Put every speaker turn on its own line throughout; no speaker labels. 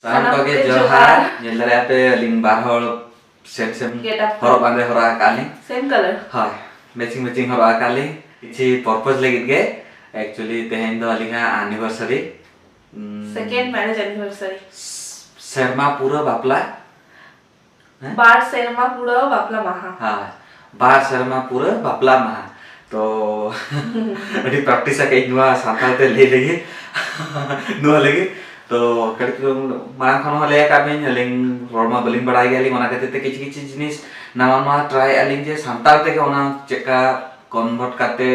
ᱥᱟᱱᱟᱢ ᱠᱚᱜᱮ ᱡᱚᱦᱟᱨ ᱧᱮᱞ ᱫᱟᱲᱮᱭᱟᱜ ᱯᱮ ᱟᱹᱞᱤᱧ ᱵᱟᱨ ᱦᱚᱲ ᱥᱮᱢ ᱥᱮᱢ ᱦᱚᱨᱚᱜ ᱵᱟᱸᱫᱮ ᱦᱚᱨᱚᱜ ᱟᱠᱟᱫ ᱞᱤᱧ ᱥᱮᱢ ᱠᱟᱞᱟᱨ ᱦᱳᱭ
ᱢᱮᱪᱤᱝ
ᱢᱮᱪᱤᱝ ᱦᱚᱨᱚᱜ ᱟᱠᱟᱫ ᱞᱤᱧ ᱠᱤᱪᱷᱩ ᱯᱚᱨᱯᱚᱡᱽ ᱞᱟᱹᱜᱤᱫ ᱜᱮ ᱮᱠᱪᱩᱭᱮᱞᱤ ᱛᱮᱦᱮᱧ ᱫᱚ ᱟᱹᱞᱤᱧᱟᱜ ᱟᱱᱤᱵᱷᱟᱨᱥᱟᱨᱤ ᱥᱮᱠᱮᱱᱰ
ᱢᱮᱨᱮᱡᱽ ᱟᱱᱤᱵᱷᱟᱨᱥᱟᱨᱤ ᱥᱮᱨᱢᱟ
ᱯᱩᱨᱟᱹ ᱵᱟᱯᱞᱟ
ᱵᱟᱨ
ᱥᱮᱨᱢᱟ ᱯᱩᱨᱟᱹᱣ ᱵᱟᱯᱞᱟ ᱢᱟᱦᱟ ᱦᱳᱭ ᱵᱟᱨ ᱥᱮᱨᱢᱟ ᱯᱩᱨᱟᱹᱣ ᱵᱟᱯᱞᱟ ᱢᱟᱦᱟ ᱛᱚ ᱟᱹᱰᱤ ᱯᱨᱮᱠᱴᱤᱥ ᱟᱠᱟᱫ ᱤᱧ ᱱᱚᱣᱟ ᱥᱟᱱᱛᱟᱲ ᱛᱮ ᱞᱟᱹᱭ ᱞᱟᱹᱜᱤᱫ ᱱᱚᱣᱟ ᱞᱟᱹᱜᱤᱫ ᱛᱚ ᱠᱟᱹᱴᱤᱡ ᱪᱩᱞᱩᱝ ᱢᱟᱲᱟᱝ ᱠᱷᱚᱱ ᱦᱚᱸ ᱞᱟᱹᱭ ᱟᱠᱟᱫ ᱵᱤᱱ ᱟᱹᱞᱤᱧ ᱨᱚᱲ ᱢᱟ ᱵᱟᱹᱞᱤᱧ ᱵᱟᱲᱟᱭ ᱜᱮᱭᱟᱞᱤᱧ ᱚᱱᱟ ᱠᱷᱟᱹᱛᱤᱨ ᱛᱮ ᱠᱤᱪᱷᱩ ᱠᱤᱪᱷᱩ ᱡᱤᱱᱤᱥ ᱱᱟᱣᱟ ᱱᱟᱣᱟ ᱴᱨᱟᱭ ᱟᱹᱞᱤᱧ ᱡᱮ ᱥᱟᱱᱛᱟᱲ ᱛᱮᱜᱮ ᱚᱱᱟ ᱪᱮᱫᱠᱟ ᱠᱚᱱᱵᱷᱟᱨᱴ ᱠᱟᱛᱮ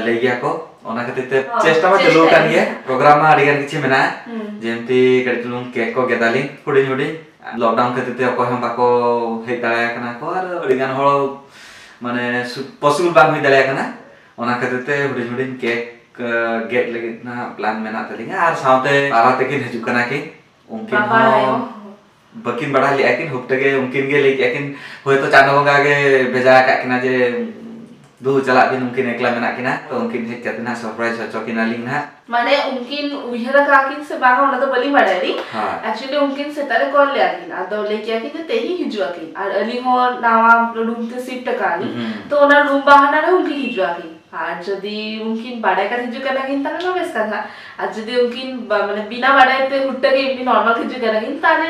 ᱞᱟᱹᱭ ᱜᱮᱭᱟ ᱠᱚ ᱚᱱᱟ ᱠᱷᱟᱹᱛᱤᱨ ᱛᱮ ᱪᱮᱥᱴᱟ ᱢᱟ ᱪᱟᱹᱞᱩ ᱟᱠᱟᱱ ᱜᱮᱭᱟ ᱯᱨᱳᱜᱨᱟᱢ ᱢᱟ ᱟᱹᱰᱤ ᱜᱟᱱ ᱠᱤᱪᱷᱩ ᱢᱮᱱᱟᱜᱼᱟ ᱡᱮᱢᱛᱤ ᱠᱟᱹᱴᱤᱡ ᱪᱩᱞᱩᱝ ᱠᱮᱠ ᱠᱚ ᱜᱮᱫᱟᱞᱤᱧ ᱦᱩᱰᱤᱧ ᱦᱩᱰᱤᱧ ᱞᱚᱠᱰᱟᱣᱩᱱ ᱠᱷᱟᱹᱛᱤᱨ ᱛᱮ ᱚᱠᱚᱭ ᱦᱚᱸ ᱵᱟᱠᱚ ᱦᱮᱡ ᱫᱟᱲᱮᱭᱟ ᱠᱟᱱᱟ ᱠᱚ ᱟᱨ ᱟᱹᱰᱤ ᱜᱟᱱ ᱦᱚᱲ ᱢᱟᱱᱮ ᱯᱚᱥᱤᱵᱚᱞ ᱵᱟᱝ ᱦᱩᱭ ᱫᱟᱲᱮᱭᱟ ᱠᱟᱱᱟ ᱚᱱᱟ ᱠᱷᱟᱹᱛᱤᱨ ᱛᱮ ᱦᱩᱰᱤᱧ ᱦᱩᱰᱤᱧ ᱠᱮᱠ ᱜᱮᱫ ᱞᱟᱹᱜᱤᱫ ᱱᱟᱦᱟᱜ ᱯᱞᱟᱱ ᱢᱮᱱᱟᱜ ᱛᱟᱹᱞᱤᱧᱟ ᱟᱨ ᱥᱟᱶᱛᱮ ᱵᱟᱵᱟ ᱛᱟᱹᱠᱤᱱ ᱦᱤᱡᱩᱜ ᱠᱟᱱᱟ ᱠᱤᱱ ᱩᱱᱠᱤᱱ ᱦᱚᱸ ᱵᱟᱹᱠᱤᱱ ᱵᱟᱲᱟᱭ ᱞᱮᱫᱼᱟ ᱠᱤᱱ ᱦᱩᱯᱴᱟᱹ ᱜᱮ ᱩᱱᱠᱤᱱ ᱜᱮ ᱞᱟᱹᱭ ᱠᱮᱫᱼᱟ ᱠᱤᱱ ᱦᱳᱭᱛᱳ ᱪᱟᱸᱫᱚ ᱵᱚᱸᱜᱟ ᱜᱮ ᱵᱷᱮᱡᱟ ᱟᱠᱟᱫ ᱠᱤᱱᱟ ᱡᱮ ᱫᱩ ᱪᱟᱞᱟᱜ ᱫᱤᱱ ᱩᱱᱠᱤᱱ ᱮᱠᱞᱟ ᱢᱮᱱᱟᱜ ᱠᱤᱱᱟ ᱛᱚ ᱩᱱᱠᱤᱱ ᱦᱮᱡ ᱠᱟᱛᱮ ᱱᱟ ᱥᱚᱨᱯᱨᱟᱭᱤᱡ ᱦᱚᱪᱚ ᱠᱤᱱᱟ ᱞᱤᱧ ᱱᱟ ᱢᱟᱱᱮ ᱩᱱᱠᱤᱱ
ᱩᱭᱦᱟᱹᱨ ᱠᱟ ᱠᱤᱱ ᱥᱮ ᱵᱟᱝ ᱚᱱᱟ ᱫᱚ ᱵᱟᱹᱞᱤᱧ ᱵᱟᱲᱟᱭ ᱞᱤᱧ ᱮᱠᱪᱩᱭᱟᱞᱤ ᱩᱱᱠᱤᱱ ᱥᱮᱛᱟᱜ ᱨᱮ ᱠᱚᱞ ᱞᱮᱭᱟ ᱠᱤᱱ ᱟᱫᱚ ᱞᱟᱹᱭ ᱠᱮᱭᱟ ᱠᱤᱱ ᱡᱮ ᱛᱮᱦᱮᱧ ᱦᱤᱡᱩᱜ ᱟᱠᱤᱱ ᱟᱨ ᱟᱹᱞᱤᱧ ᱦᱚᱸ ᱱᱟᱣᱟ ᱨᱩᱢ ᱛᱮ ᱥᱤᱯᱴ ᱟᱠᱟᱱ ᱛᱚ ᱚᱱᱟ ᱨᱩᱢ ᱵᱟᱦᱟᱱᱟ ᱨᱮ ᱩᱱᱠᱤᱱ ᱦᱤᱡᱩᱜ ᱟᱠᱤᱱ ᱟᱨ ᱡᱩᱫᱤ ᱩᱱᱠᱤᱱ ᱵᱟᱰᱟᱭ ᱠᱟᱛᱮ ᱦᱤᱡᱩᱜ ᱠᱟᱱᱟ ᱠᱤᱱ ᱛᱟᱦᱞᱮ ᱢᱟ ᱵᱮᱥ ᱠᱟᱛᱷᱟ ᱟᱨ ᱡᱩᱫᱤ ᱩᱱᱠᱤᱱ ᱢᱟᱱᱮ ᱵᱤᱱᱟ ᱵᱟᱰᱟᱭ ᱛᱮ ᱦᱩᱴ ᱛᱮᱜᱮ ᱮᱢᱱᱤ ᱱᱚᱨᱢᱟᱞ ᱦᱤᱡᱩᱜ ᱠᱟᱱᱟ ᱠᱤᱱ ᱛᱟᱦᱞᱮ